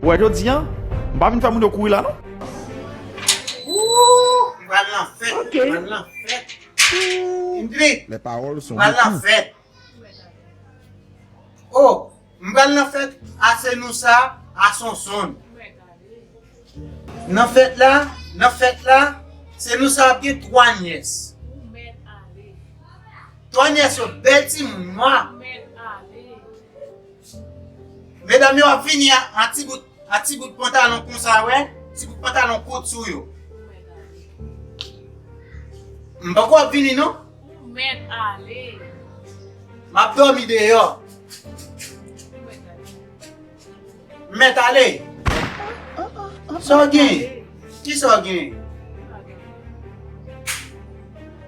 Ou wè jodi an, m pa vin fè moun yo kouri la non. Ooh bal lan fèt ok bal lan fèt Impli les paroles sont bal lan fèt oh m bal lan fèt a se nou sa a sonsonn nan fèt la nan fèt la se nou sa ap gen 3 nyès 3 nyès yo bèl timoun nwa. Medam yo ap vini a ti bout a ti bout pantalon konsa wè, ti bout pantalon kout sou yo. M poko ap vini non. Ou mèt ale. M ap dòmi deyò. M mèt ale. Sa w gen? Kisa w gen?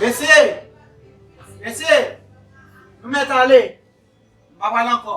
Mesye! Mesye! Nou mèt ale! Nou pa pral ankò!